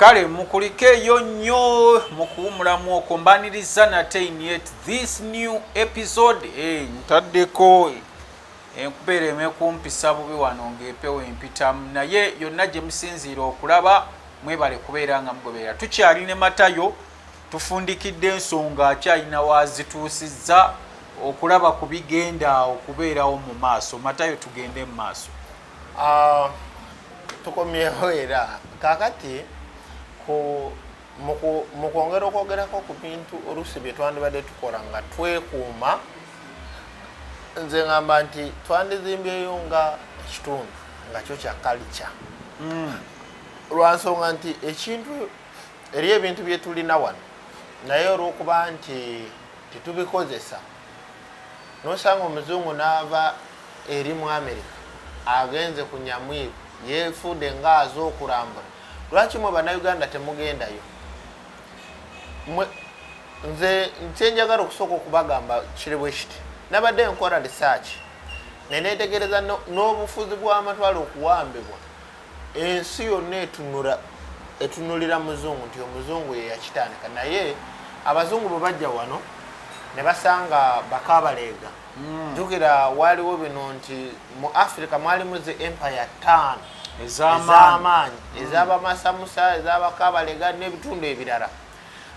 kale mukulikeeyo nnyo mu kuwumulamu okwo mbaniriza nate inyet this new episode eh, ntaddeko enkubeera eh, emekumpisa bubi wano ngaepewo empitamu naye yonna gye musinziira okulaba mwebale kubeera nga mugoberera tukyali ne matayo tufundikidde ensonga akyalina wazituusizza okulaba ku bigenda okubeerawo mu maaso matayo tugende mu maaso Ah, tukomyewo era kakati ku mu kwongera okwogerako ku bintu oluusi bye twandibadde tukola nga twekuuma nze ngamba nti twandizimbyeyo nga ekitundu nga kyo kya kalica hmm. lwansonga nti ekintu eri ebintu byetulina wano naye olwokuba nti tetubikozesa nosanga omuzungu naava eri mu amerika agenze ku nyamwiru yefuude nga aze okulambula lwaki mwe banauganda temugendayo nze kyenjagala okusooka okubagamba kiri bwe kiti nabadde nkola risaaki neneetegereza n'obufuzi bw'amatwale okuwambibwa ensi yonna etunura etunulira muzungu nti omuzungu yeyakitandika naye abazungu bwe bajja wano ne basanga bakabaleega hmm. jukira waliwo bino nti mu africa mwalimu zi empire tan ezamaanyi hmm. ezabamasamusa ezabakabalega n'ebitundu ebirala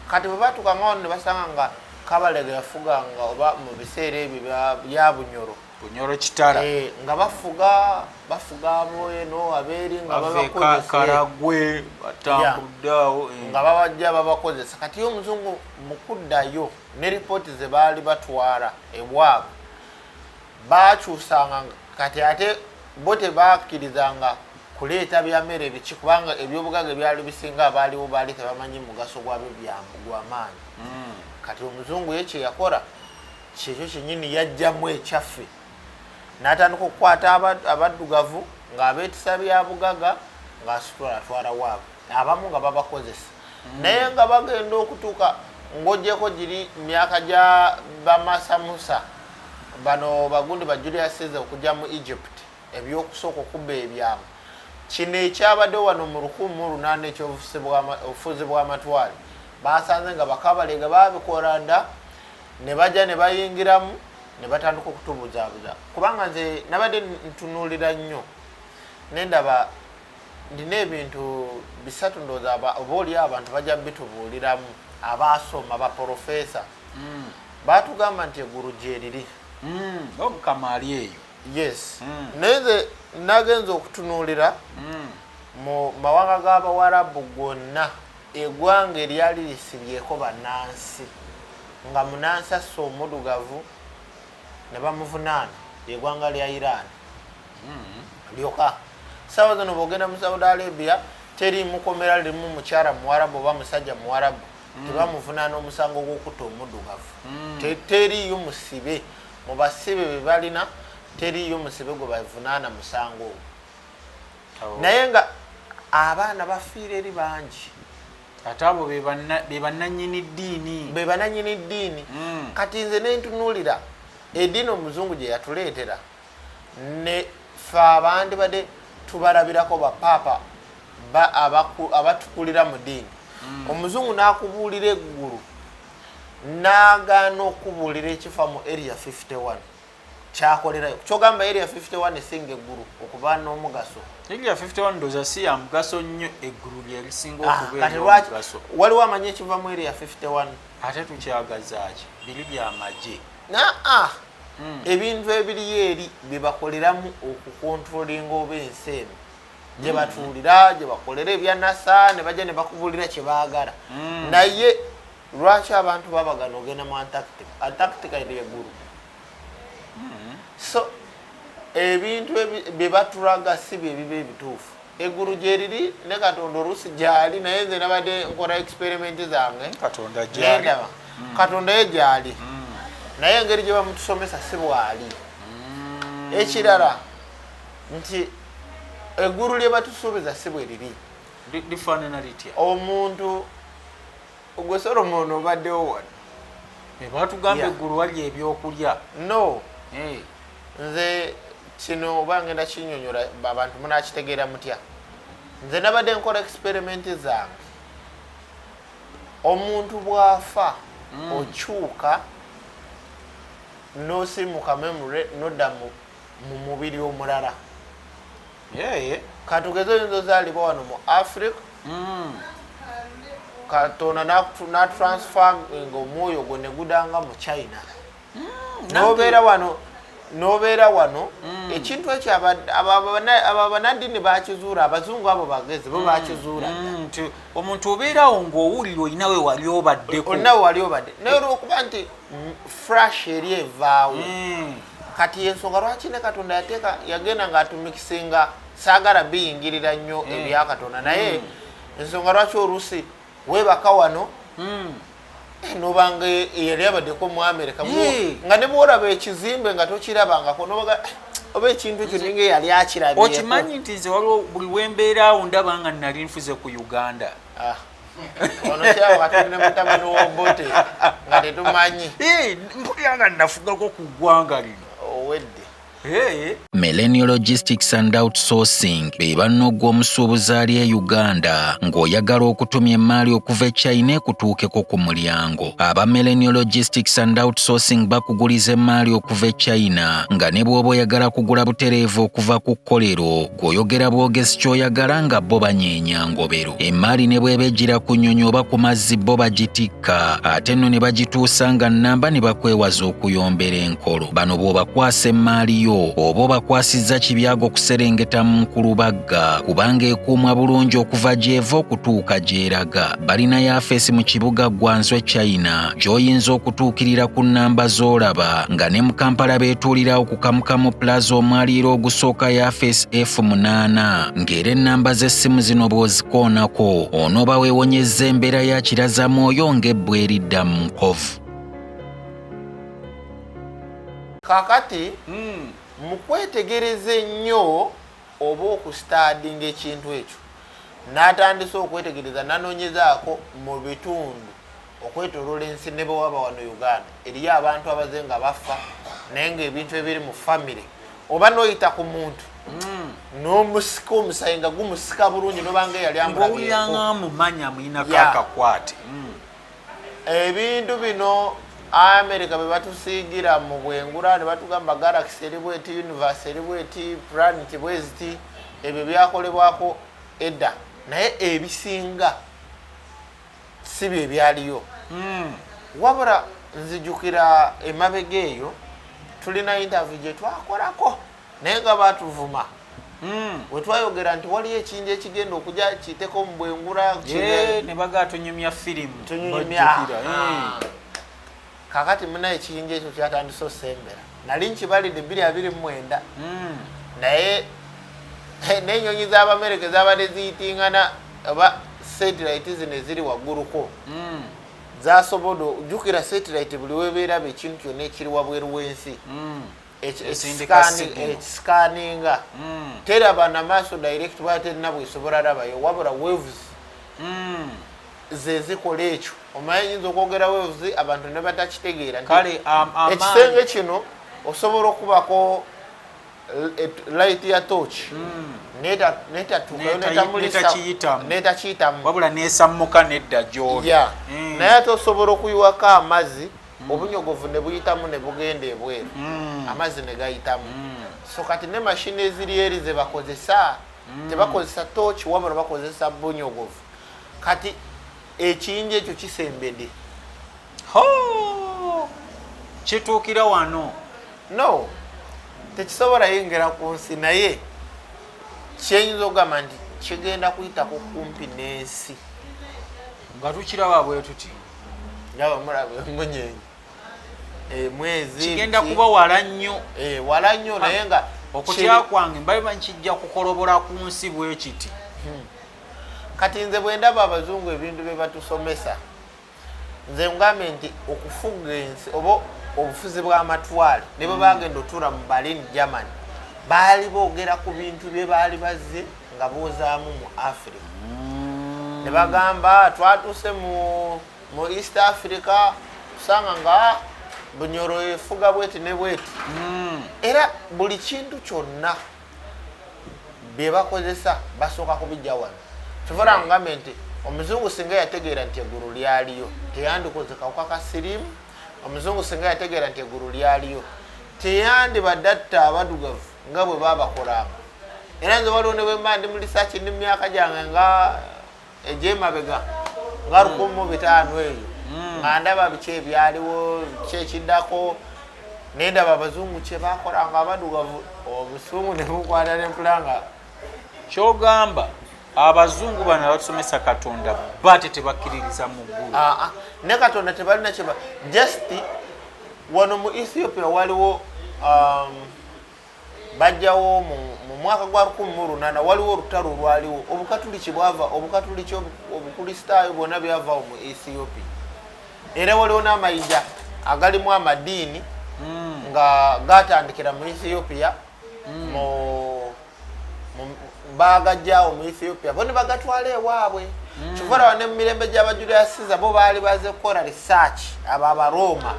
kati bwe batuka nga wano ne basanga nga kabalega yafuganga oba mu biseera ebyo bya bunyoro bunyoro kitara eh, nga bafuga bafuga abweno abeeri nga babakozesakaragwe batambuddeawo eh. nga babajja babakozesa kati yo omuzungu mukuddayo ne ripooti ze baali batwala ebwabwe bakyusanga kati ate bo tebakkirizanga kuleeta byamere biki kubanga ebyobugaga ebyali bisinga abaaliwo baali tebamanyi mugaso gwabyo gwamaanyi hmm. kati omuzungu ye kyeyakora kyekyo kyenyini yajjamu ekyaffe natandika okukwata abaddugavu ng'abeetisa bya bugaga ng'asitula atwala waabwe abamu nga babakozesa mm. naye nga bagenda okutuuka ng'ogyeko giri myaka gya bamasamusa bano bagundi ba julius cesar okujja mu egypt ebyokusooka okubba ebyamu kino ekyabadde wano mu lukumu lunaana ekyobufuzi bw'amatwale basanze nga bakabalega babikola nda ne bajja ne bayingiramu ne batandika okutubuzaabuza kubanga nze nabadde ntunuulira nnyo nendaba ndina ebintu bisatu ndooza oba oli abantu bajja bitubuuliramu abaasoma baprofesa mm. baatugamba nti eggulu gyeriri mm. omukama ali eyo yes mm. naye nze nagenza okutunuulira mu mawanga g'abawarabu gonna Egwanga eryali lisibyeko banansi nga munansi asse omudugavu nebamuvunaana lyegwanga lya Iran hmm. lyoka sawa zino bogenda mu Saudi Arabia teri mukomera limu mukyara muwarabu oba musajja muwarabu hmm. tebamuvunaana omusango gwokutta omudugavu hmm. teriyo musibe mubasibe bebalina teriyo musibe gwebavunaana musango ogwo naye nga abaana bafiira eri bangi ate abo bebananyini ddiini bebananyini ddiini mm. kati nze nentunuulira ediini omuzungu gye yatuleetera ne fe abandi bade tubalabirako bapaapa abatukulira mu diini mm. omuzungu nakubuulira eggulu nagaana okubuulira ekifa mu area 51 kyakolerayo kyogamba area 51 esinga eggulu okuba n'omugaso area 51 ndoza si ya mugaso nnyo eggulu lyerisinga ah, okubeeramugaso waliwo amanyi ekiva mu area 51 ate tukyagazaaki biri byamagye naa ah, hmm. ebintu ebiriyo eri byebakoleramu okukontrolinga oba ensi eno hmm. gyebatuulira gyebakolera ebyanasa ne bajja ne bakubulira kyebaagala hmm. naye lwaki abantu babagana ogenda mu antarctica antarctica eri egulu hmm. so ebintu byebatulaga si byebiba ebituufu egulu gyeriri ne katonda oluusi gyali naye nze nabadde nkola experiment zange nendaba hmm. katonda ye gyali hmm. naye engeri gyebamutusomesa si bwali ekirala nti egulu lyebatusuubiza si bweriri omuntu ogwe solomon obaddewo wano eh, batugamba eggulu wali ebyokulya no eh. nze kino oba ngenda kinyonyola abantu munakitegeera mutya nze nabadde nkola experimenti zange omuntu bwafa mm. okyuka nosimuka memory nodda mu mubiri omulala katugeze oyinza ozaalibwa wano mu africa hmm. katonda natransfer nga omwoyo gwo negudanga mu china hmm, nobeera wano nobeera wano hmm. ekintu ekyo abo banadini bakizuula abazungu abo bagezi bo bakizuula nti omuntu obeerawo ngaowulira olinawe wali obaddeko olinawe wali obadde naye olwokuba nti frash eri evaawo kati yensonga lwaki ne katonda yateeka yagenda ngaatumikisinga saagala biyingirira nnyo mm. ebya katonda naye mm. ensonga lwaki oluusi weebaka wano mm. eh, nobanga eyali abadeko mu amerika nga ne bwolaba ekizimbe nga tokirabangako nobaga eh, oba ekintu ekyo ninga eyali akirabye okimanyi nti nze waliwo buli wembeeraawo ndaba nga nali nfuze ku uganda ah. ono kyawo katonda ne mutabani wobote nga tetumanyi mpulira nga nafugako ku ggwanga lino owedde Millennial Logistics and Outsourcing be banno gw'omusuubuzi ali e Uganda ng'oyagala okutumya emmaali okuva e China ekutuukeko ku mulyango. Aba Millennial Logistics and Outsourcing bakuguliza emmaali okuva e China nga ne bw'oba oyagala kugula butereevu okuva ku kkolero gw'oyogera bwogezi ky'oyagala nga bo banyeenya ngobero. emmaali ne bweba ejjira ku nnyonyi oba ku mazzi bo bagitikka ate nno ne bagituusa nga nnamba ne bakwewaza okuyombera enkolo bano bw'obakwasa emmaali yo oba obakwasizza kibyago okuserengeta mu nkulubagga kubanga ekuumwa bulungi okuva gy'eva okutuuka gy'eraga balina yafeesi mu kibuga gwanzwe china gy'oyinza okutuukirira ku nnamba z'olaba nga ne mu kampala beetuulirawo ku kamukamu plaza omwaliiro ogusooka yafeesi f munaana ng'era ennamba z'essimu zino bw'ozikoonako onooba weewonyezza embeera ya kirazamwoyo ng'ebbwa eridda mu nkovu kakati hmm. mu kwetegereza ennyo oba okusitadinga ekintu ekyo natandise okwetegereza nanoonyezaako mu bitundu okwetolola ensi ne bwewaba wano uganda eriyo abantu abaze nga bafa naye ngaebintu ebiri mu famiry oba noyita ku muntu hmm. nomusika omusayi nga gumusika bulungi nobanga eyali amulabyekakwate hmm. ebintu bino amerika bebatusiigira mu bwengula nebatugamba galaxy eri bweti universe eri bweti planet bweziti ebyo byakolebwako edda naye ebisinga si bye byaliyo hmm. wabula nzijukira emabega eyo tulina intavi gye twakolako naye nga batuvuma hmm. wetwayogera nti waliyo ekinja ekigenda okuja kiteko mubwengula nebaga tunyumya firimu tunyumya kakati munaye ekiyinja ekyo kyatandise osembera nali nkibalidde biri abiri mumwenda hmm. naye eh, nenyonyi zabamereke zabadde ziyitingana oba satelite zino eziri wagguluko hmm. zasobola ojukira satelite buli webeeraba ekintu kyonna ekiri wabweru wensi hmm. ekisikaninga teraba namaaso direct baterina bwesobola rabayo wabula waves zezikola ekyo omaye yinza okwogera wevuzi abantu nebatakitegeera kale ekisenge kino osobola okubako eh, light ya toch hmm. netakiyitamuwabula nesammuka nedda gyoli hmm. naye ate osobola okuyiwako amazzi hmm. obunyogovu nebuyitamu nebugenda ebweru amazzi negayitamu so kati ne mashini eziri eri zebakozesa tebakozesa toch wabula bakozesa bunyogovu kati ekiyinja ekyo kisembede kituukira wano no tekisobola yengera ku nsi naye kyenyinza okugamba nti kigenda kuyitako kumpi n'ensi nga tukiraba bwe tuti ndaba mulaba emunyenyi eh, mwezi kigenda kuba wala nnyo eh, wala nnyo naye nga okutya kwange mbabiba nkijja kukolobola ku nsi bwe kiti hmm. kati nze bwendaba abazungu ebintu byebatusomesa nze ngambye nti okufuga ensi oba obufuzi bwamatwale nebwe bagenda otuula mu berlin germany baali boogera ku bintu bye baali bazze nga boozaamu mu africa mm. ne bagamba twatuuse mu east africa tusanga nga bunyoro efuga bweti ne bweti mm. era buli kintu kyonna byebakozesa basooka kubijja wano kivula ngambe nti omuzungu singa yategeera nti eggulu lyaliyo teyandikoze kawuka ka siriimu omuzungu singa yategeera nti eggulu lyaliyo teyandibadde atta abadugavu nga bwe babakolanga era nze waliwo ne bwemba ndi mu lisaaki ndi mu myaka gyange nga egyemabega nga hmm. lukumu mu bitaano eyo hmm. nga ndaba biki ebyaliwo kyekiddako nendaba abazungu kyebakola nga abadugavu obusungu nebukwata nempula nga kyogamba abazungu bano abatusomesa katonda bate tebakkiririza mu ggulu ah, ah. ne katonda tebalina kyeba just wano mu ethiopia waliwo um, bajjawo mu mwaka gwa 18 waliwo olutalo olwaliwo obukatuliki bwava obukatuliki obukristaayo bwona byavawo mu ethiopia era waliwo n'amayinja agalimu amadiini hmm. nga gatandikira mu ethiopia hmm. bagajjawo mu ethiopia bo nebagatwala ewaabwe hmm. kivarawa ne mu mirembe gy'abajulirasiza bo baali baze kukola research abo abarooma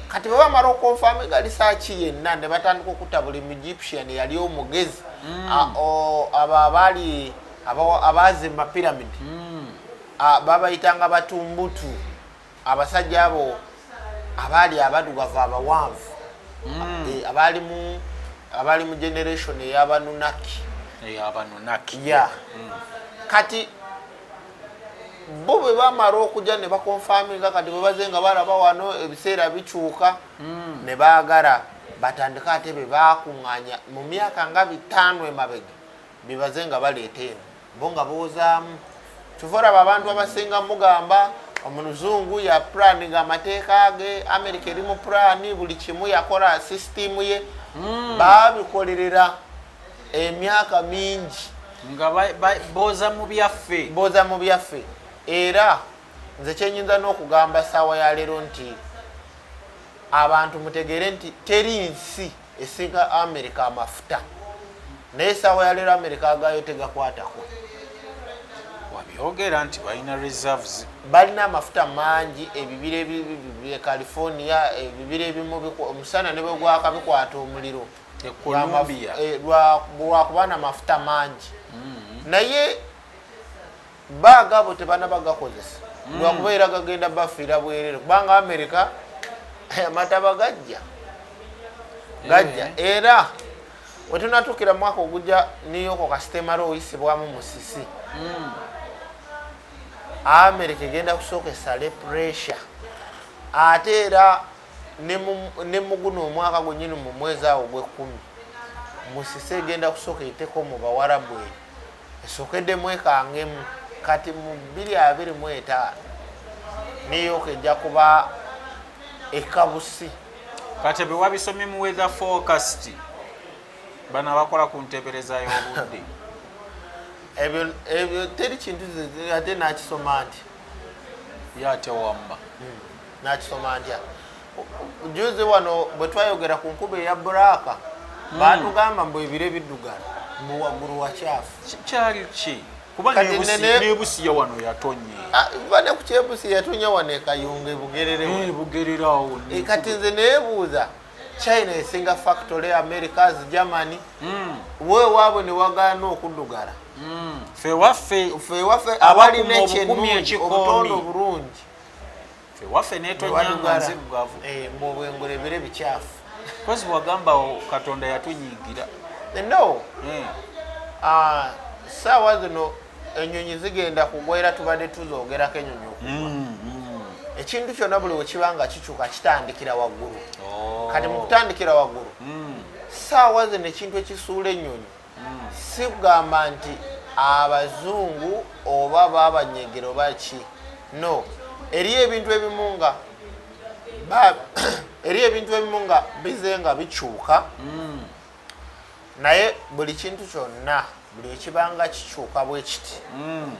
kati bwe bamala okonfama egalisa ki yenna ne batandika okutta buli muegyptian yali omugezi mm. abo abaali abaazimba pyramid mm. babayitanga batumbutu abasajja abo abaali abadugavu abawanvu mm. e, abaalimu abaali mu generation eyabanunaki eyabanunaki ya kati bo bwe bamala okujja ne bakonfaminga kati bwe baze nga balaba wano ebiseera bikyuka mm. ne baagala batandike ate be bakuŋŋaanya mu myaka nga bitaano emabega be baze nga baleeta eno bo nga boozaamu kyova olaba abantu abasinga mugamba omuluzungu ya purani nga amateeka ge amerika eri mu purani buli kimu yakola sisitiimu ye mm. babikolerera emyaka mingi nga boza mu byaffe boza mu byaffe era nze kyenyinza n'okugamba saawa ya leero nti abantu mutegeere nti teri nsi esinga amerika amafuta naye saawa ya leero amerika agayo tegakwatako wabyogera nti balina reserves balina amafuta mangi ebibira california ebibira ebimu omusana nebwegwaka bikwata omuliro e eh, lwakuba namafuta mangi mm-hmm. naye bagabo tebana bagakozesa mm. lwakuba era gagenda bafiira bwerere kubanga amerika eh, amataba gajja eh. gajja era wetunatukira mwaka oguja niyoko kasitemara oyisibwamu musisi mm. amerika egenda kusooka esale pressure ate era ne muguno omwaka gwenyini mu mwezi awo gwekumi musise egenda kusooka eiteko mu bawarabu eyo esokedde mwekangemu kati mu biri abiri mu etaano neyoka ejja kuba ekabusi kati ebyo wabisomye mu weather forecast bano abakola ku ntebereza y'obudde ebyo teri kintu ate nakisoma nti yatewamma hmm. nakisoma ntya juzi wano bwe twayogera ku nkuba eya buraaka hmm. baatugamba mbu ebire biddugala mbu waggulu wakyafu kyali ki kubanebusiya wano yatonye ah, kuba ne ku kyebusi yatonya wano ekayunga ebugerereugererawo eh, eh, kati nze neebuuza china esinga factory americas germany hmm. we waabwe ne wagaana okuddugala hmm. fewaffe abali nekyenungi obutondo obulungi ewaffe netonyanga nzirugavu eh, mbu obwengorebere bikyafu kozi wagamba katonda yatunyigira eh, no eh. ah, saawa zino enyonyi zigenda kugwa era tubadde tuzogerako enyonyi okugwa mm, mm. ekintu kyonna buli wekiba nga kikyuka kitandikira waggulu oh. kati mukutandikira waggulu hmm. saawa zino ekintu ekisuula ennyonyi si kugamba nti abazungu oba babanyegero baki no eri ebintu ebimu nga eri ebintu ebimu nga bize nga bikyuka mm. naye buli kintu kyonna buli ekibanga kikyuka bwekiti mm.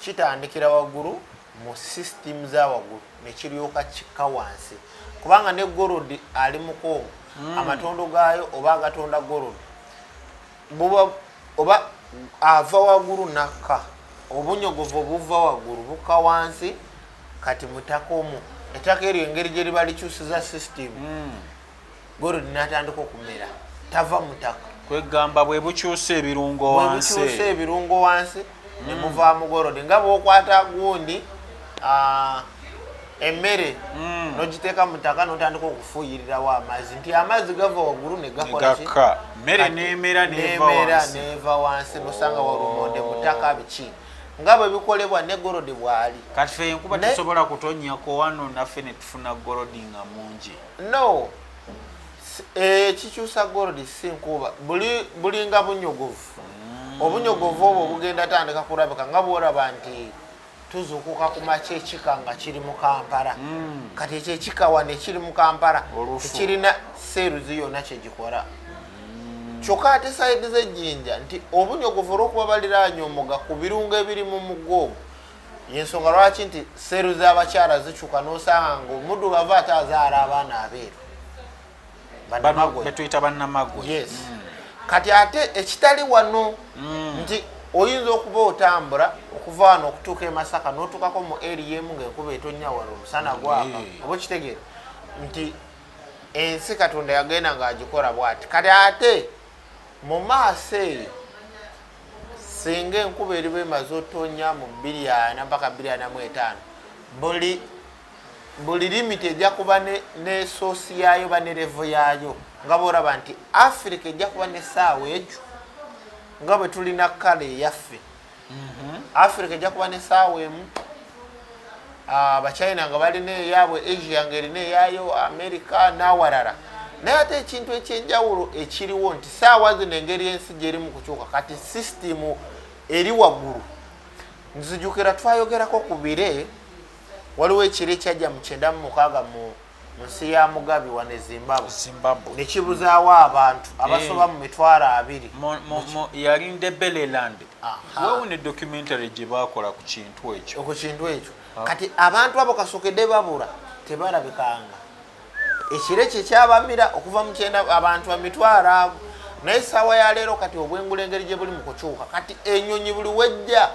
kitandikira waggulu mu system za waggulu ne kiryoka kikka wansi kubanga ne gold ali mukoomu mm. amatondo gaayo oba agatonda gold buba oba ava waggulu nakka obunyogovu obuva waggulu bukka wansi kati mutakomu ettaka eryo engeri gye liba likyusiza system mm. gorudi natandika okumera tava mutaka kwegamba bwebukyusa ebirungo wansibukyusa ebirungo wansi mm. nemuva mugorodi nga bwokwata gundi ah, emmere mm. nogiteeka mutaka notandika okufuuyirirawo amazzi nti amazzi gava waggulu negakolaka mmere nemera neva wansi nosanga walumonde mutaka biki nga bwe bikolebwa ne golodi bwali kati fe enkuba tesobola kutonyako wano naffe netufuna golodi nga mungi no ekikyusa eh, gold si nkuuba bulinga bunyogovu mm. obunyogovu obwo bugenda tandika kurabika nga bworaba nti tuzukuka kumakya ekika nga kiri mu kampala mm. kati ekyo ekika wane kiri mu kampala tekirina seeruzi yonna kyegikora mm. kyokka ate saidi z'ejjinja nti obunyogovu olwokuba baliraanya omuga ku birungo ebiri mu mugo ogwo yensonga lwaki nti seru zabakyala zikyuka nosanga nga omuddu bava ate azaala abaana abeeru betuyita banamagwe yes mm. kati ate ekitali wano mm. nti oyinza okuba otambula okuva wano okutuuka emasaka notuukako mu eriemu ngaenkuba etonya wano omusana gwaka oba okitegeera nti ensi katonda yagenda ngaagikola bwati kati ate mu maaso eyo singa enkuba eriba emaze otonya mu biryana mpaka biryana mu etaano buli buli limiti ejja kuba nesoosi yaayo ba nerevo yaayo nga boraba nti afirika ejja kuba nesaawa ekyo nga bwe tulina kala eyaffe mhm. afirika ejja kuba nesaawa emu abachina ah, nga balina eyaabwe asia nga erina eyaayo amerika n'awalala naye ate ekintu ekyenjawulo ekiriwo nti saawa zino engeri ensi gyeri mu kukyuka kati sisitimu eri waggulu nzijukira twayogerako ku bire waliwo ekiro ekyajja mu kyenda mu mukaaga mu nsi ya mugabi wane zimbabwe zimbabwe nekibuzaawo abantu eh. abasoba mu mitwaro abiri yali ndebeleland wewo ne documentary gye bakola ku kintu ekyo ku kintu ekyo ah. kati abantu abo kasokede babura tebalabikanga ekire kye kyabamira okuva mu kyenda abantu bamitwaro abo naye saawa ya leero kati obwengula engeri gye buli mu kukyuka kati enyonyi buli wejja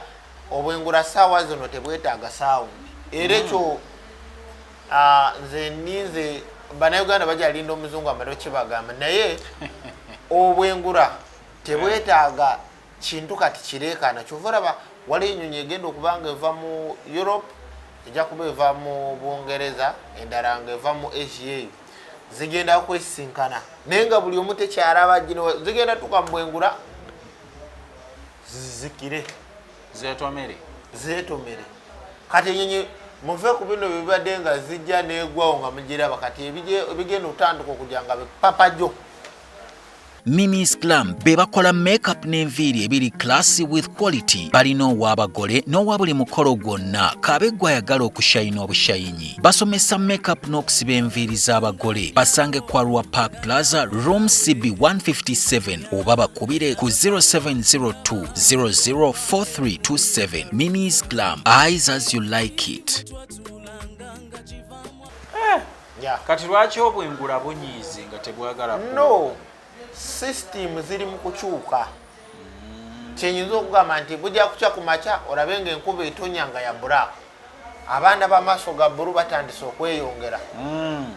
obwengula saawa zino tebwetaaga saawundi era ekyo mm. Ah, nze ninze banauganda bajalinda omuzungu amale okibagamba naye obwengura tebwetaaga kintu kati kireekaana kyova olaba waliyo enyonyi egenda okuba nga eva mu europe ejja kuba eva mu bungereza endala nga eva mu asia eyo zigenda kwesisinkana naye nga buli omu tekyalaba gino zigenda tuka mubwengura zizikire zetomere zetomere kati enyonyi muve ku bino bibadde nga zijja negwawo nga mugiraba kati ebigenda otandika okuja nga bipapajo Mimi's Glam be bakola makeup n'enviiri ebiri classy with quality. Balina ow'abagole n'owa buli mukolo gwonna k'abe gw'ayagala okushayina obushayinyi. Basomesa makeup n'okusiba enviiri z'abagole. Basange kwa Rwa Park Plaza, room CB 157 oba bakubire ku 0702 Minis Glam, eyes as you like it. Eh, kati lwaki obwengula bunyiize nga tebwagala no system ziri mu kukyuka kyenyinza okugamba nti bujja kukya ku makya olabe nga enkuba etonya nga ya buraaka abaana bamaaso ga bulu batandise okweyongera mm.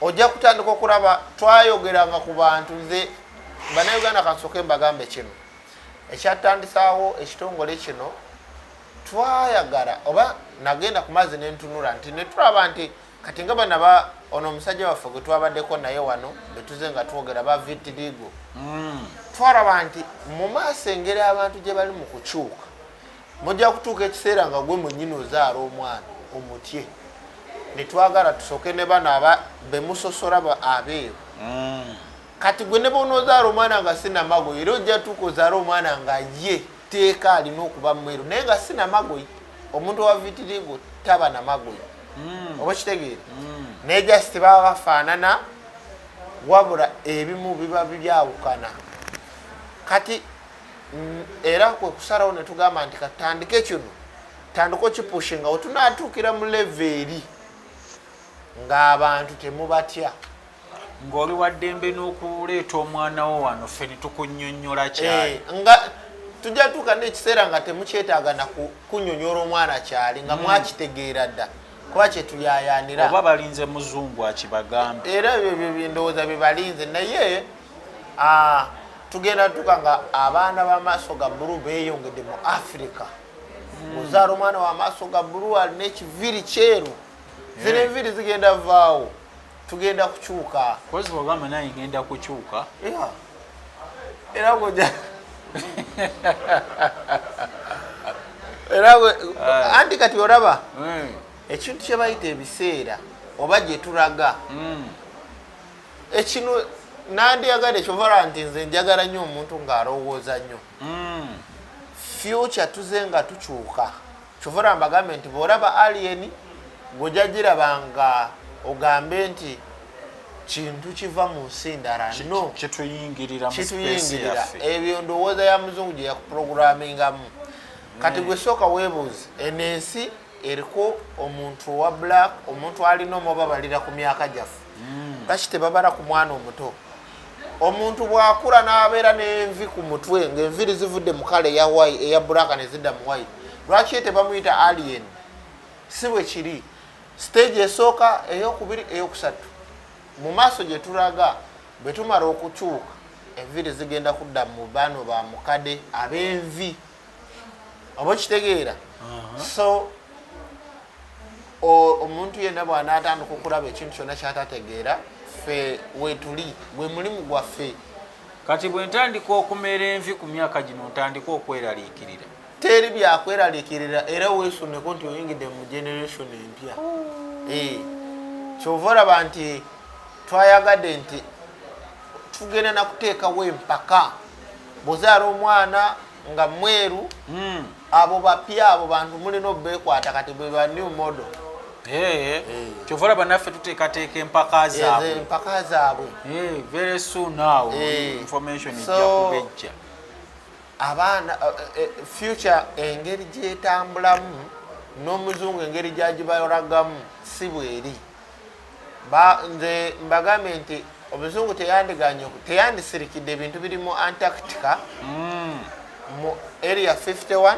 ojja kutandika okulaba twayogeranga ku bantu nze banauganda kansoke mbagambe kino ekyatandisaawo ekitongole kino twayagala oba nagenda ku mazzi nentunula nti netulaba nti kati nga bana ba ono omusajja waffe gwe twabaddeko naye wano betuze nga twogera ba vitiligo mm. twalaba nti mu maaso engeri abantu gye bali mu kukyuka mujja kutuuka ekiseera nga gwe mwenyini ozaala omwana omutye netwagala tusoke ne bano aba bemusosora abeeru mm. kati gwe ne bona ozaala omwana nga sinamagoyi era ojja tuuka ozaala omwana nga ye teeka alina okuba mweru naye nga sinamagoyi omuntu owavitirigo taba namagoyi mm. oba kitegeere mm. naye just baba bafaanana wabula ebimu biba byawukana kati mm, era kwe kusalawo ne tugamba nti katandike kino tandika okipushinga wetunatuukira mu leva eri ng'abantu temubatya ng'oli waddembe n'okuleeta omwana wo wano ffe ne tukunyonyola eh, kyali nga tujja tuuka n'ekiseera nga temukyetaaga na kunyonyola omwana kyali nga mm. mwakitegeera dda mm. kuba kyetuyayanira oba balinze muzungu akibagambe era ebyo bindowooza byebalinze naye Ah, tugenda tuka nga abaana bamaaso ga bulu beyongedde mu africa hmm. ozaala omwana wamaaso ga bulu alina ekiviri kyeru eh. zino enviri zigenda vaawo tugenda kukyuka kozibwogamba naye ngenda kukyuka era goja era eh. anti kati olaba eh. ekintu kyebayita ebiseera oba gyetulaga hmm. ekino nandyagade kyovara nti nze njagala nnyo omuntu ng'alowooza nnyo hmm. fyuca tuze nga tukyuka kyovara mbagambe nti bw'olaba alien gwojagiraba nga ogambe nti kintu kiva mu nsi ndala no kituyingirira ebyo ndowooza ya muzungu gye yakuprogrammingamu kati hmm. gwe sooka weebuuzi eno ensi eriko omuntu owa black omuntu alina omubabalira ku myaka gyaffe hmm. lwaki tebabala ku mwana omuto omuntu bwakula n'abeera n'envi ku mutwe ng'enviri zivudde mu kala eya wayi eya bulaaka ne zidda mu wayi lwaki ye tebamuyita alien si bwe kiri siteegi esooka eyokubiri eyokusatu mu maaso gye tulaga bwe tumala okukyuka enviri zigenda kudda mu bano ba mukade ab'envi oba okitegeera so omuntu yenna bwanaatandika okulaba ekintu kyonna kyatategeera ffe wetuli gwe mulimu gwaffe kati bwe ntandika okumera envi ku myaka gino ntandika okweraliikirira teri byakweraliikirira era weesuneko nti oyingidde mu generation empya oh. eh, kyova olaba nti twayagadde nti tugenda nakuteekawo empaka bwozaala omwana nga mweru hmm. abo bapya abo bantu mulina obekwata kati beba new model eh. kyova olaba naffe tuteekateeka empaka zaabwe empaka zaabwe eh, very soon now eh. information ejja kubejja abaana eh, eh, future engeri gyetambulamu n'omuzungu engeri gyagibalagamu si bweri ba nze mbagambye nti omuzungu teyandiganye teyandisirikidde ebintu biri mu antarctica mm. mu area 51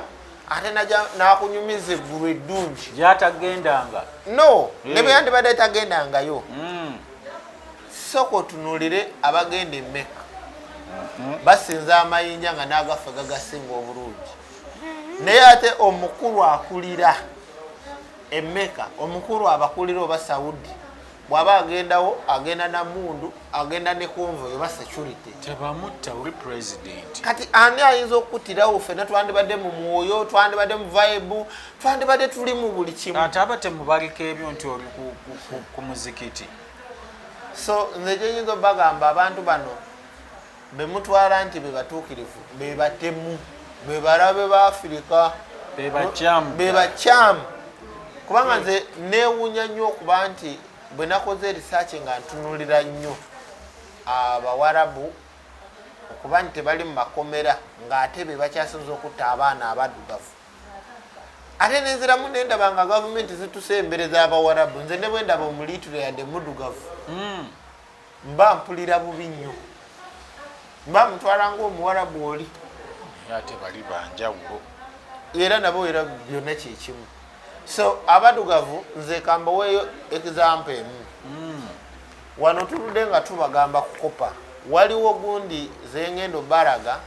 ate nakunyumiza eggulu eddungi gyatagendanga no eh. ne bwe yandibadde tagendangayo mm. sooka otunulire abagenda emeka mm-hmm. basinza amayinja nga nagafe gagasinga obulungi naye ate omukulu akulira emeka omukulu abakulira oba saudi bwaba agendawo agenda na mundu agenda ne konvo oba security tebamutta uri president kati ani ayinza okukutirawo fena twandibadde mu mwoyo twandibadde mu vibe twandibadde tuli mu buli kimu ate aba temubaliko ebyo nti oli ku muzikiti so nze gyenyinza obagamba abantu bano be mutwala nti be batuukirivu be batemu be balabe ba afirika be bakyamu kubanga nze neewunya nnyo okuba nti bwe nakoze erisaaki nga ntunulira nnyo abawarabu okuba nti tebali mu makomera ng'ate be bakyasinza okutta abaana abaddugavu ate nenziramu nendaba nga gavumenti zitusa embere z'abawarabu nze ne bwe ndaba omuliitiro yadde muddugavu hmm. mba mpulira bubi nnyo mba mutwala ngaomuwarabu oli ate bali banjawulo era nabo era byonna kyekimu so abadugavu nze kambaweeyo example emu hmm. wano tuludde nga tubagamba kukopa waliwo gundi zengendo baraga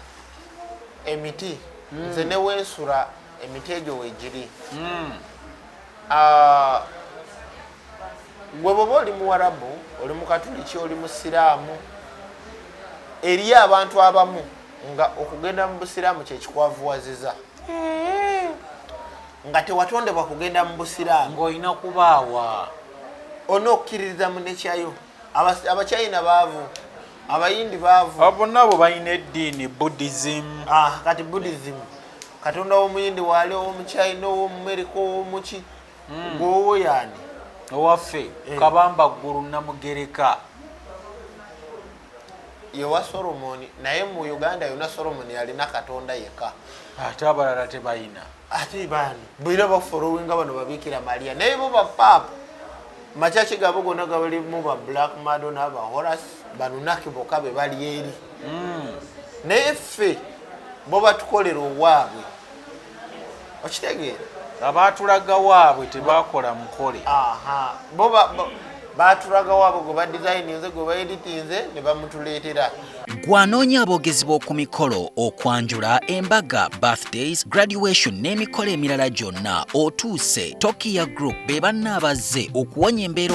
emiti hmm. nze newensula emiti egyo wegiri hmm. ah, gwe bwoba oli muwarabu oli mukatuliki oli musiraamu eriyo abantu abamu nga okugenda mu busiraamu kyekikwavuwaziza nga tewatondebwa kugenda mu busiraamu ngaolina kubaawa olina okukkiririza mu nekyayo abachina baavu abayindi baavu abona abo balina eddiini buddhism ah, kati buddhism katonda w'omuyindi waali ow'omuchina ow'omumerika ow'omuki mm. gwowo yani owaffe eh. kabamba ggulu namugereka yewa solomoni naye mu uganda yona solomoni yalina katonda yeka ate abalala tebayina ate bani bwira bafolowinga bano babikira maria naye bo bapapa macaci gabo gona gabalimu ba black mado naba horas banunaki boka be bali eri mm. naye ffe bo batukolera owaabwe okitegeera abaatulaga waabwe tebakola mukole baatulaga waabwe gwe badizayininze gwe baeditinze ne bamutuleetera gwanoonya aboogezi b'oku mikolo okwanjula embaga birthdays graduation n'emikolo emirala gyonna otuuse tokiya group be banna abazze okuwonya embeera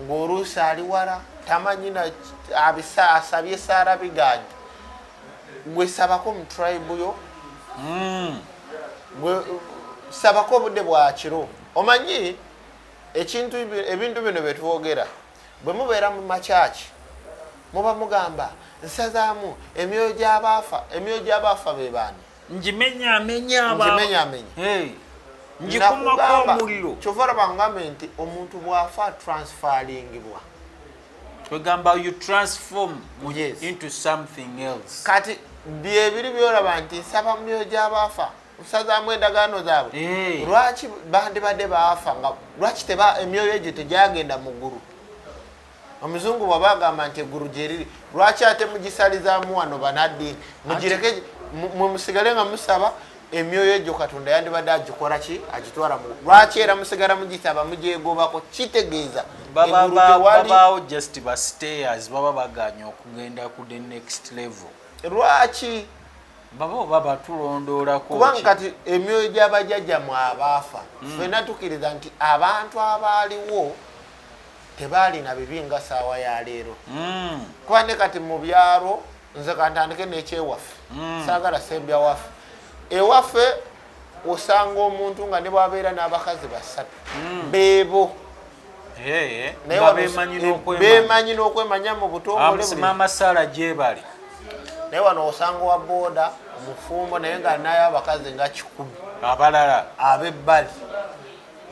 ng'oluusi ali wala tamanyi asabye saara biganye gwe sabako mu tribe yo hmm. gwe sabako obudde bwakiro omanyi ekintu ebintu bino byetwogera bwe mubeera mu makyaki muba mugamba nsazaamu emyoyo gyabaafa emyoyo gyabaafa bebaani njimenyaamenyabanjikumakaomullokyova olaba ngambe nti omuntu bwafa transferingibwa kwegamba you transform yes. into something else kati byebiri byolaba nti nsaba mumyoyo gyabaafa nsazaamu endagaano zaabwe hey. lwaki bandibadde baafa nga lwaki emyoyo egyo tegyagenda mu ggulu omuzungu bwaba agamba nti eggulu gyeriri lwaki ate mugisalizaamu wano banaddiini mugireke mwe musigale nga musaba emyoyo egyo katonda yandibadde agikola ki agitwala mu lwaki era musigala mugisaba mugyegobako kitegeeza babaawo just bastayers baba baganya okugenda ku the next level lwaki baba oba batulondoolako kubanga kati emyoyo gy'abajajjamwe abaafa hmm. fena tukiriza nti abantu abaaliwo tebaalina bibi nga saawa ya leero hmm. kuba ne kati mu byalo nze kantandike nekyewaffe hmm. saagala sembya waffe ewaffe osanga omuntu nga ne bwabeera n'abakazi basatu hmm. beebo bemanyi n'okwemanya mu butongolemama saala gyebali naye wano osanga wa booda omufumbo naye nga nayo abakazi nga kikumi abalala abebbali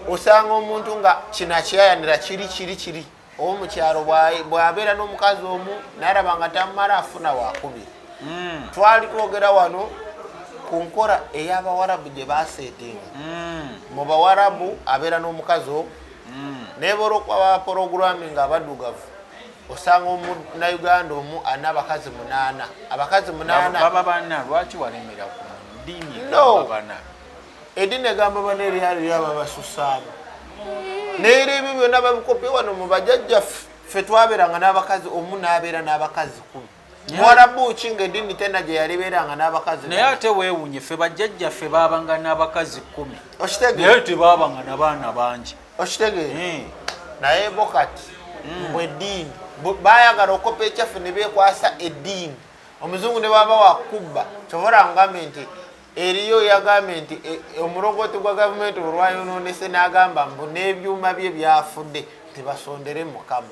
osanga omuntu nga kino akyayanira kiri kiri kiri owomukyalo bwabeera n'omukazi omu nalaba nga tamumala afuna wakumi hmm. twali twogera wano ku nkora ey'abawarabu gye baseetinga hmm. mu bawarabu abeera n'omukazi omu hmm. naye bolwokuba bapologurami nga abadugavu osanga omunauganda omu alina abakazi munaana abakazi munaana baba bana lwaki walemera ku ddiini no. edini egamba bana eryali lyaba basusaabo neera ebyo byona babikopye wano mubajajja ffe twaberanga n'abakazi omu nabeera n'abakazi kumi mwarabu ki nga edini tena gyeyalibeeranga n'abakazi naye ate wewunye ffe bajajja ffe babanga n'abakazi kumi okitegenaye tebabanga nabaana bangi okitegeera hmm. naye bo kati hmm. mbwe eddiini bayagala okopa ekyaffe ne bekwasa eddiini omuzungu ne baba wakubba kyobola ngambe nti eriyo yagambye nti e, e, omulongooti gwa gavumenti olwayonoonese n'agamba mbu n'ebyuma bye byafudde tebasondere mukamu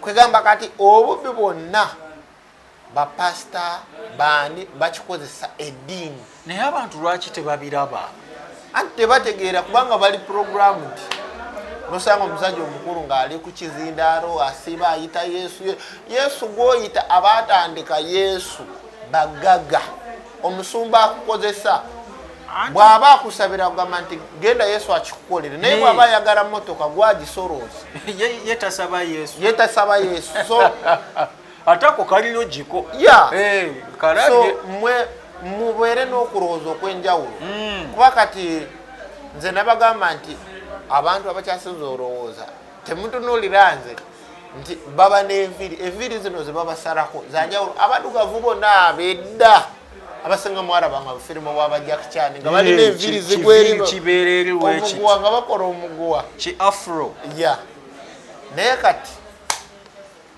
kwegamba kati obubbi bwonna bapasita baani bakikozesa eddiini naye abantu lwaki tebabiraba anti tebategeera kubanga bali puroguramu nti nosanga omusajja omukulu ng'ali ku kizindaalo asiba ayita yesu yesu gwoyita abaatandika yesu bagaga omusumba akukozesa bw'aba akusabira kugamba nti genda yesu akikukolere naye bw'aba ayagala motoka gwagisorooza yetasaba yesu so atako kalino giko ya so mwe mubeere n'okulowooza okw'enjawulo hmm. kuba kati nze nabagamba nti abantu abakyasinza olowooza temutunuulira nze nti baba n'enviiri enviiri zino ze babasarako zanjawulo abadugavu bona bedda abasinga mwaraba nga bufirimu bwa bajakicani nga balina enviiri zigwerinomuguwa nga bakola omuguwa ki afro ya naye kati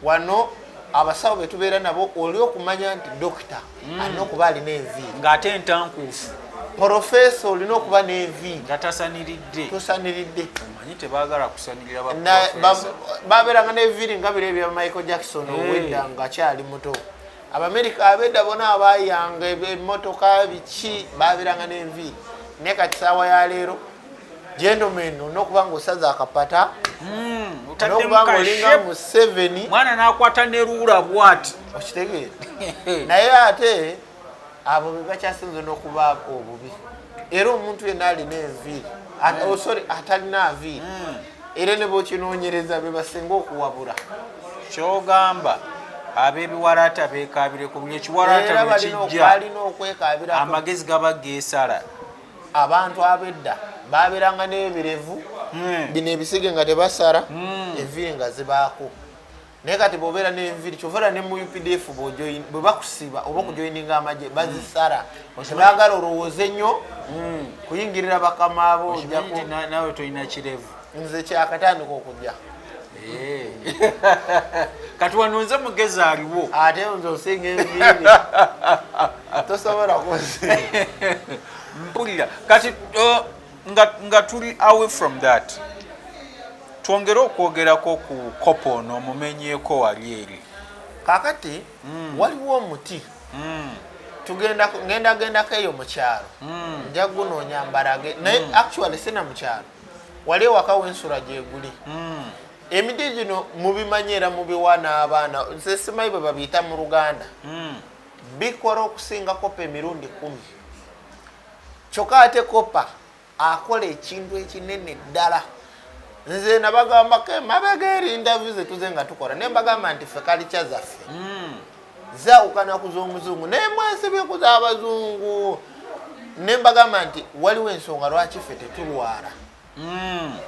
wano abasawo betubeera nabo oli okumanya nti dokita mm. alina okuba alina envi ng'ate entankuufu porofeesa olina okuba n'envi nga tasaniridde tosaniridde omanyi tebagala kusanirira babeeranga n'eviiri nga biro ebya michael jackson eh. owedda ngaakyali muto abamerika abedda bona abayanga emotoka biki babeeranga n'envi naye kati saawa ya leero gentlemen olina okuba nga osaza akapata hmm, nokuba nga olinga museveni mwana nakwata neruula bwati okitegeera naye ate abo bebakyasinza nokuba obubi era omuntu yena alina enviiri hmm. oh, sorry atalina aviiri hmm. era nebokinoonyereza bebasinga okuwabula kyogamba abebiwalaata bekabire ku buli ekiwalaata bwekijja amagezi gaba gesala abantu abedda baberanga nebirevu hmm. bino ebisige nga tebasara hmm. enviri nga zibaako naye kati bwobeera nenviri kyovaera ne mu updf bwe bakusiba oba okujoininga hmm. amagye bazisara tebagala olowooze nnyo kuyingirira bakamaabo nawe tolina kirevu nze kyakatandika okujja eh. kati wano nze mugezi aliwo ate nze osinga enviiri tosobola kuzi mpulira kati uh, nga tuli away from that twongere okwogerako ku kopo ono omumenyeeko wali eri kakati mm. waliwo omuti mm. tugenda ngenda gendako eyo mukyalo mm. nja gunoonya mbarage naye mm. actually sina mukyalo wali ewaka wensula gyeguli hmm. emiti gino mubimanyi era mubiwa n'abaana nze simanyi bwe babiyita mu luganda hmm. bikola okusinga kopa emirundi kumi kyokka ate kopa akola ekintu ekinene ddala nze nabagambako emabega erindavu zetuze nga tukola naye mbagamba nti fe kalikya zaffe hmm. zaawukana ku z'omuzungu naye mwesibye ku z'abazungu ne mbagamba nti waliwo ensonga lwaki ffe tetulwala hmm.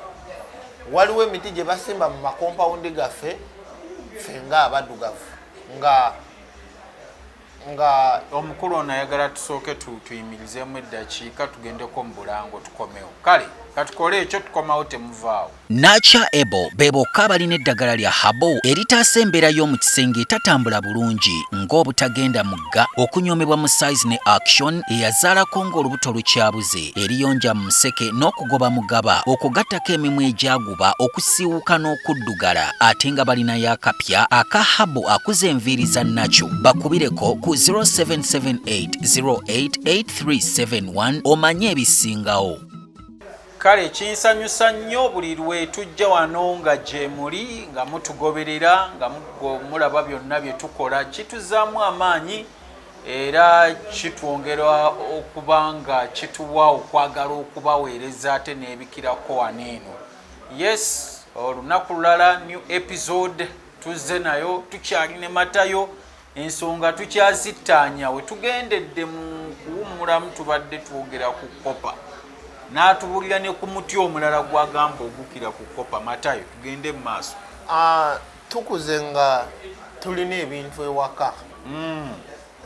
waliwo emiti gye basimba mu makompawundi gaffe ffe nga abaddugavu nga nga omukulu ono ayagala tusooke tuyimirizemu eddakiika tugendeko mu bulango tukomewo kale katukole ekyo tukomawo temuvaawo Nature Ebo be bokka abalina eddagala lya habo eritaasa embeera y'omu kisenge etatambula bulungi ng'obutagenda mugga, okunyoomebwa mu size ne action eyazaalako ng'olubuto lukyabuze, eriyonja mu museke n'okugoba mugaba okwo gattako emimwa egyaguba, okusiiwuuka n'okuddugala ate nga balinayo akapya aka habo akuza enviiri za naco. Bakubireko ku 0778 08 8371 omanye ebisingawo. kale kinsanyusa nnyo buli lwe tujja wano nga gyemuli nga mutugoberera nga mulaba byonna bye tukola kituzaamu amaanyi era kitwongera okuba nga kituwa okwagala okubaweereza ate n'ebikirako wano eno yes olunaku lulala new episode tuzze nayo tukyali ne matayo ensonga tukyazittaanya we tugendedde mu kuwummulamu tubadde twogera ku kopa n'atubuulira ne ku muti omulala gwagamba ogukira ku kopa matayo tugende mu maaso ah, tukuze nga tulina ebintu ewaka hmm.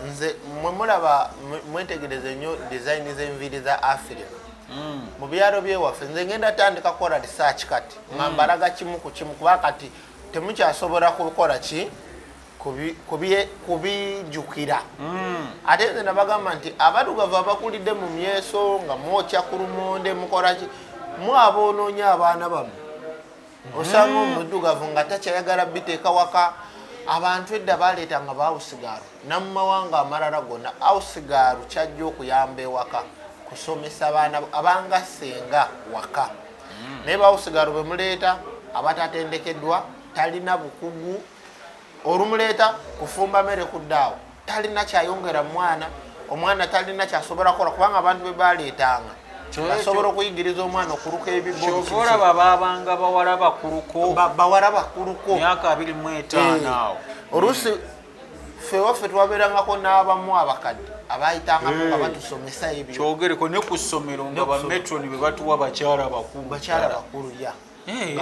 nze mwe mulaba mwetegereze nnyo dizayini z'enviiri za afirika hmm. mu byalo byewaffe nze ngenda tandika kukola risaaki kati nga hmm. mbalaga kimu ku kimu kuba kati temukyasobola kukola ki kubijukira hmm. ate nze nabagamba nti abadugavu abakulidde mu myeso nga mwokya ku lumonde mukolaki mwaba onoonya abaana bamu hmm. osanga omudugavu nga takyayagala biteeka waka abantu edda baleeta nga bawusigaaru namumawanga amalala gonna awusigaaru kyajja okuyamba ewaka kusomesa baana abanga senga waka hmm. naye bawusigaaru bemuleeta abatatendekeddwa talina bukugu olumuleeta kufumba mere kuddaawo talina kyayongera mwana omwana talina kyasobola kukola kubanga abantu bebaleetanga basobola okuyigiriza omwana okuluka ebiboolaba babanga bawala bakuluko bawala bakuluko myaka abiri mu etaano eh, awo oluusi ffe waffe twabeerangako n'abamu abakadde abayitangamu nga eh. batusomesa ebyo kyogereko ne ku ssomero nga bametroni bebatuwa bakyala bakulu bakyala bakulu ya eh.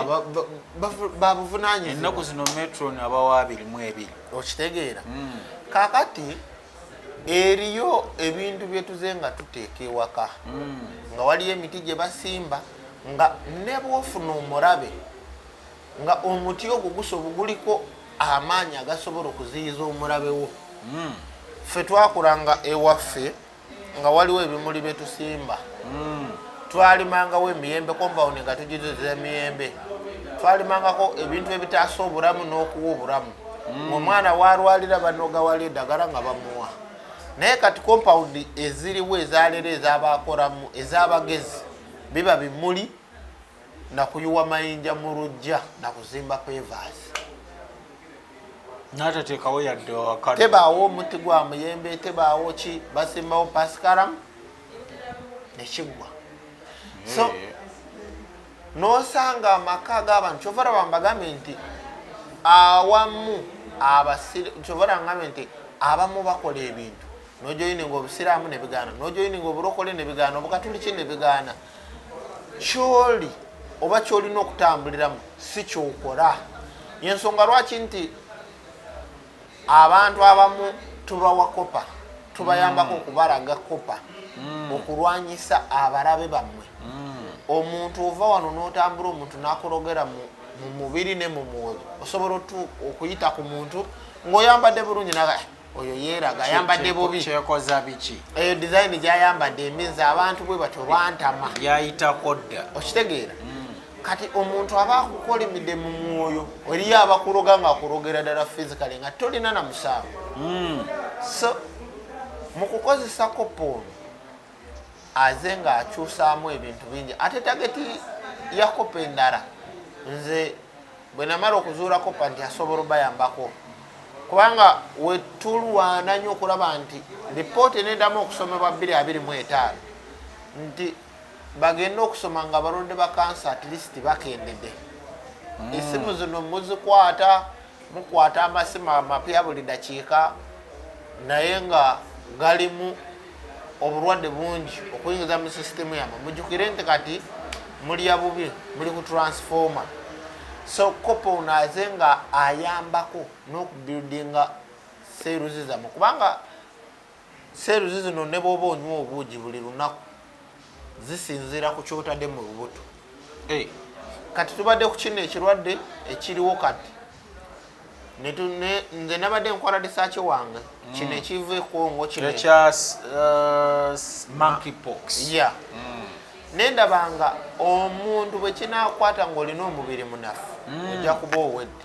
babuvunanyizibwa ennaku zino metron abawa abiri mu ebiri okitegeera hmm. kakati eriyo ebintu byetuze nga tuteeka ewaka hmm. nga waliyo emiti gye basimba nga nebwofuna omurabe nga omuti ogwo gusobo guliko amaanyi agasobola okuziyiza omurabe wo hmm. ffe twakulanga ewaffe nga waliwo ebimuli bye tusimba mm. twalimangawo emiyembe kombawundi nga tugiziza emiyembe twalimangako ebintu ebitaasa obulamu n'okuwa obulamu mm. omwana walwalira banogawala edagala nga bamuwa naye kati kompawundi eziriwo ezalero ezabakolamu ezabagezi biba bimuli nakuyuwa mayinja mu lujja nakuzimba kwevaazi natatekawo yadde tebaawo omuti gwa muyembe tebaawo ki basimbawo pasikaram nekiggwa so nosanga amaka g'abantu kyova raba mbagambye nti awamu abasir kyova raba ngambye nti abamu bakola ebintu nojoyininga obusiraamu nebigaana nojoyininga oburokole nebigaana obukatuliki nebigaana kyoli oba kyolina okutambuliramu si kyokora yensonga lwaki nti abantu abamu tubawa kopa tubayambako mm. okubalaga kopa mm. okulwanyisa abalabe bammwe mm. omuntu ova wano notambula omuntu nakulogera mu mubiri ne mu mwoyo osobola okuyita ku muntu ng'oyambadde bulungi naga oyo yeeraga ayambadde bubi kyekoza biki eyo dizayini gyayambadde eminza abantu bwe batyo bantama yayitako dda okitegeera mm. kati omuntu aba akukolimidde mu mwoyo eriyo abakuloga nga akulogera ddala fizikale nga tolina na musango mm. so mu kukozesako poono aze nga akyusaamu ebintu bingi ate tageti yakopa endala nze bwenamala okuzuula kopa nti asobola obayambako kubanga wetulwana nyo okulaba nti lipooti enedamu okusomebwa 225 nti bagende okusoma nga balonde bakansa atleast bakendede hmm. esimu zino muzikwata mukwata amasimu amapya buli dakiika naye nga galimu obulwadde bungi okuyingiza mu sisitemu yamwe mujukire nti kati mulya bubi muli ku transformer so kopa ono aze nga ayambako n'okubuildinga seeruzi zamwe kubanga seeruzi zino ne bwoba onywa obuugi buli lunaku zisinziira ku kyotadde mu lubuto eh. kati tubadde ku kino ekirwadde ekiriwo kati nze nabadde nkwala disaaki wange mm. kino ekiva ekongo kinekya uh, monkypox ya mm. nendabanga omuntu bwekinakwata ngaolina omubiri munafu mm. ojja kuba owedde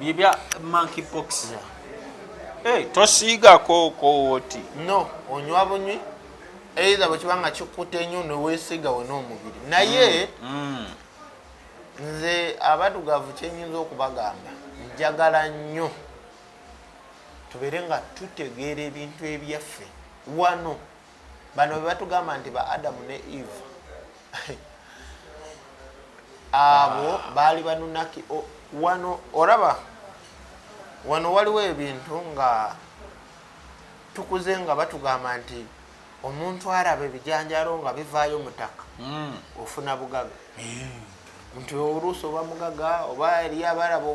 Bibya monkey pox ya. Hey, eh, tosiga ko ko woti. No, onywa bunywi. Either bwe kibanga kikute nyo no wesiga wona omubiri. Naye mm. mm. Nze abadugavu kyenyinza okubagamba. Njagala nnyo tubeere nga tutegeera ebintu ebyaffe wano bano bebatugamba nti ba adamu ne eve abo baali banunaki wano oraba wano waliwo ebintu nga tukuze nga batugamba nti omuntu araba ebijanjalo nga bivaayo mutaka hmm. ofuna bugaga hmm. nti oluusi oba mugaga oba eriyo abaraba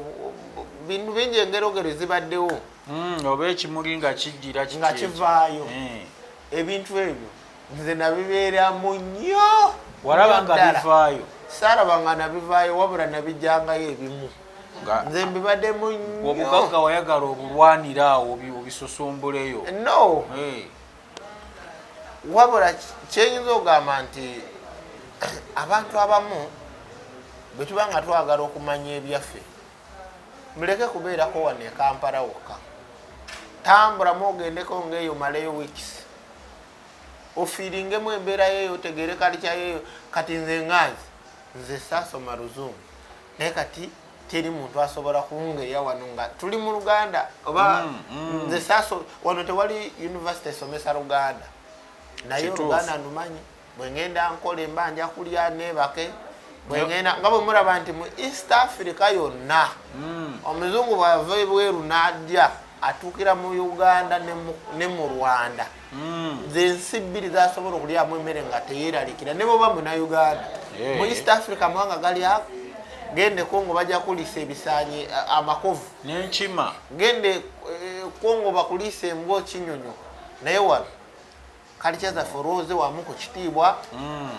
bintu bingi engerogero zibaddewo mm, oba ekimuli nga kiddira nga kivaayo eh. ebintu ebyo nze nabibeeramu nnyo walaba nga bivaayo saraba nga nabivaayo wabula nabijangayo ebimu nze mbibaddemu nnyo obugagga wayagala obulwanira awo obisusumbuleyo no eh. wabula kyenyinza okugamba nti abantu abamu bwetuba nga twagala okumanya ebyaffe muleke kubeerako wano ekampala wokka tambulamu ogendeko ngaeyo maleyo weeks ofiiringemu embeerayo eyo otegeere kalikyayoeyo kati nze nganzi nze saasoma luzungu naye kati teri muntu asobola kungeya wano nga tuli mu luganda oba mm, mm. nze saso wano tewali univesity esomesa luganda naye oluganda numanyi bwengenda nkola emba nja kulya nebake bwengenda nga bwe muraba nti mu east africa yonna hmm. omuzungu bwava ebweru nadya atuukira mu uganda ne mu rwanda hmm. zensi bbiri zasobola okulyamu emmere nga teyeralikira ne bwoba muna uganda eh. mu east africa mawanga gali ako gende kongo bajja kulisa ebisanyi amakovu nenkima gende eh, kongo bakulisa embwa kinyonyo naye wano kalcha zaffe olwoze wamu ku kitiibwa mm.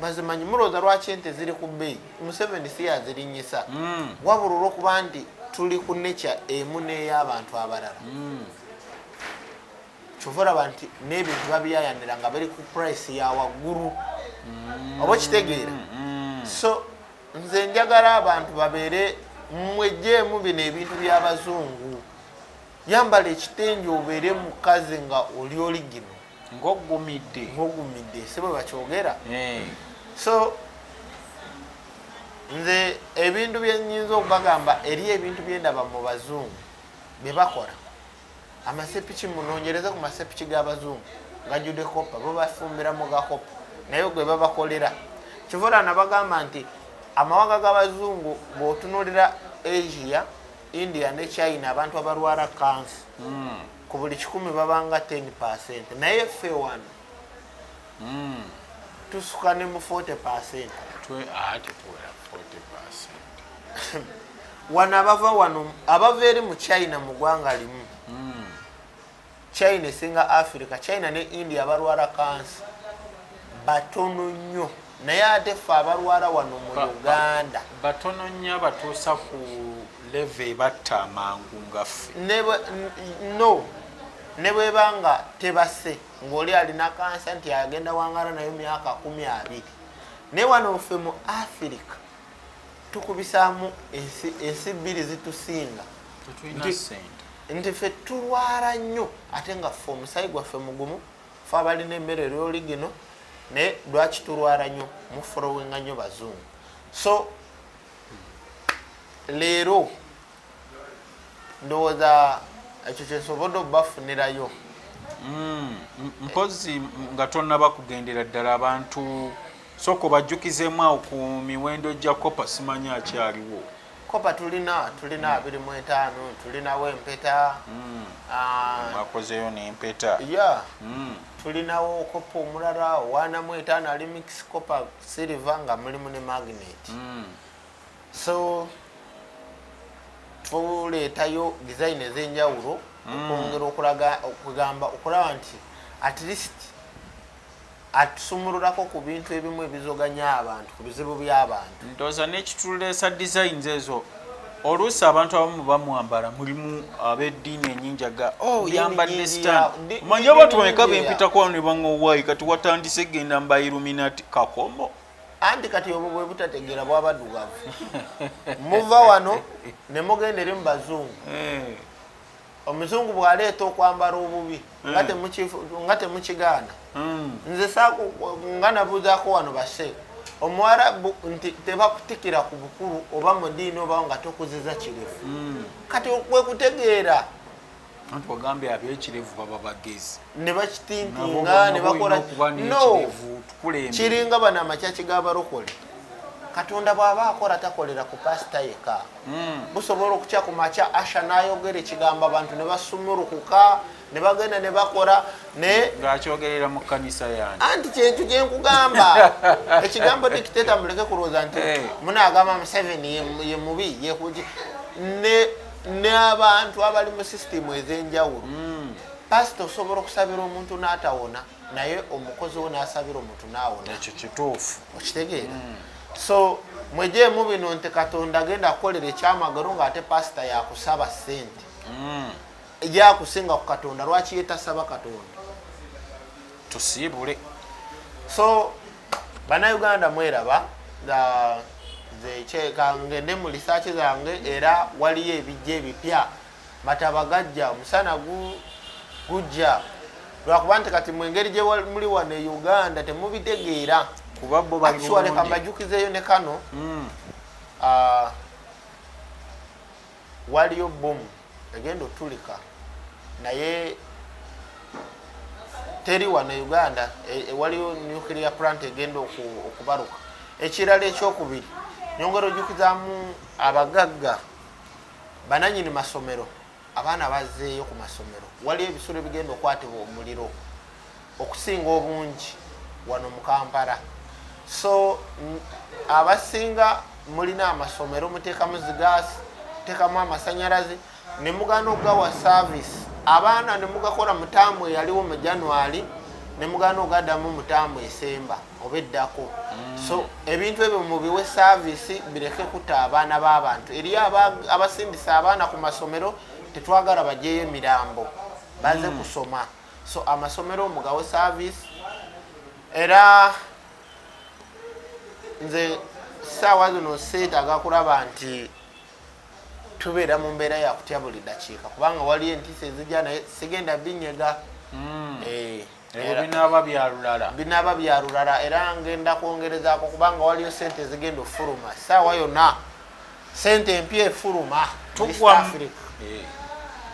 bazimanyi mulowooza lwaki ente ziri ku bbeeyi museveni si yazirinyisa mm. wabula olwokuba nti tuli ku nekya emu n'ey'abantu abalala mm. kyova olaba nti n'ebintu babiyayanira nga bali ku purayisi ya waggulu oba okitegeera so nze njagala abantu babeere mwejjeemu bino ebintu by'abazungu yambala ekitengi obeere mukazi nga oli oli gino ngogumidde ngogumidde si bwe bakyogera eh. so nze ebintu byenyinza okubagamba eri ebintu byendaba mu bazungu bye bakola amasepiki munonyereze ku masepiki g'abazungu gajude koppa bo bafumbira mu gakoppa naye gwe babakolera kivula nabagamba nti amawanga g'abazungu bwotunulira asia india ne china abantu abalwala kansi mm. ku buli kikumi babanga 10 percent naye ffe wano mm. tusuka ne mu 40 percent ah, wano abava wano abava eri mu china mu gwanga limu mm. china esinga africa china ne india abalwala kansi batono nnyo naye ate ffe abalwala wano mu uganda batono nnyo abatuusa ku leve ebatta amangu ngaffe no ne bweba nga tebase ngaoli alina kansa nti agenda wangala nayo myaka kumi abiri naye wano ffe mu africa tukubisaamu ensi bbiri zitusinga nti fe tulwala nnyo ate nga fe omusayi gwaffe mugumu fe abalina emmere lyoli gino naye lwaki tulwala nnyo muforowenga nnyo bazungu so leero ndowooza ekyo kyensobodde obafunirayo mm, mpozi nga tonaba kugendera ddala abantu soko bajjukizemu awo ku miwendo gya kopa simanya akyaliwo kopa tulina tulina abiri mu etaano tulinawo empeta mm. ah, akozeyo nempeta ya mm. tulinawo kopa omulala owaanamu etaano ali mix kopa silver nga mulimu ne magnet so tuleetayo design ez'enjawulo mm. okwongera okulaga okugamba okulaba nti at least atusumululako ku bintu ebimu ebizoganya abantu ku bizibu by'abantu ndoza nekituleesa designs ezo oluusi abantu abamu bamwambala mulimu ab'eddiini enyinjaga o oh, yambadde stan manya abantu bameka bempitakwano ne baŋowaayi kati watandise genda mba iluminati kakomo anti kati obwo bwe butategeera bwabadugavu muva wano ne mugenda eri mu bazungu eh. omuzungu bwaleeta okwambala obubi eh. nga temukigaana hmm. nze nga nabuuzaako wano base omuwarabu nti tebakutikira ku bukulu oba mu diini oba nga tokuziza kirefu hmm. kati kwekutegeera anti wagambye abekirevu baba bagezi ne bakitimpinga ne bakola no kiringa bano amakyaki g'abalokole katonda bw'aba akola takolera ku pasita yeka hmm. busobola okutya ku makya asha n'ayogera ekigambo abantu ne basumulukuka ne bagenda ne bakola ne ng'akyogerera mu kkanisa yange anti kyentu kye nkugamba ekigambo dikiteta muleke kulowooza nti eh. munaagamba museveni ye mubi yekuji ne n'abantu abali mu sisitimu ez'enjawulo hmm. pasita osobola okusabira omuntu n'atawona naye omukozi wo n'asabira omuntu n'awona ekyo kituufu okitegeera hmm. so mwejeemu bino nti katonda agenda kukolera ekyamagero ng'ate pasita yakusaba ssente hmm. yakusinga ku katonda lwaki yetasaba katonda tusiibule so banauganda mweraba zekyeka ngende mu lisaaki zange era waliyo ebijja ebipya matabagajja omusana gujja lwakuba nti kati mwengeri gyemuli wano e uganda temubitegeera kubabobakiwaleka mbajukizeeyo ne kano hmm. ah, waliyo bomu egenda otulika naye teri wano e uganda e, e, waliyo nuclear plant egenda okubaruka ekirala ekyokubiri nyongera ojukizamu abagagga bananyini masomero abaana bazeeyo ku masomero waliyo ebisolo ebigenda okwatibwa omuliro okusinga obungi wano mu kampala so abasinga mulina amasomero muteekamu zigaasi muteekamu amasanyalaze ne mugana okugawa saavisi abaana ne mugakola mutaamu eyaliwo mu january ne mugana ogadamu mutaamu esemba oba eddako mm. so ebintu ebyo mubiwe saavisi bireke kuta abaana b'abantu eri abasindisa abaana ku masomero tetwagala bajeyo emirambo baze mm. kusoma so amasomero mugawe service era nze saawa zino seetaaga kulaba nti tubeera mu mbeera yakutya buli dakiika kubanga waliyo entiisa ezijja naye sigenda binyega hmm. eh, binaaba byalulala binaaba byalulala era ngenda kwongerezaako kubanga waliyo sente ezigenda okufuluma saawa yonna sente empya efuluma tugwa eh,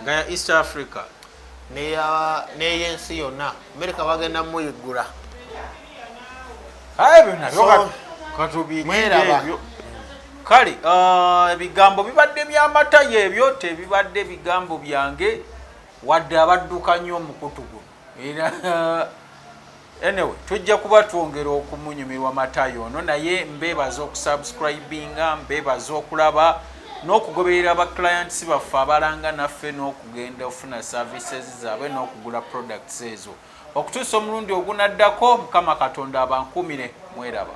nga ya east africa neyensi yonna amerika bagenda muyiggula kale uh, ebigambo bibadde byamata yebyo tebibadde bigambo byange wadde abadduka nnyo omukutu guno era Anyway, tujja kuba twongera okumunyumirwa matayo ono naye mbeebaza okusubscribinga mbeebaza okulaba n'okugoberera ba clients baffe abalanga naffe n'okugenda ofuna services zaabwe n'okugula products ezo okutuusa omulundi ogunaddako mukama katonda abankuumire mweraba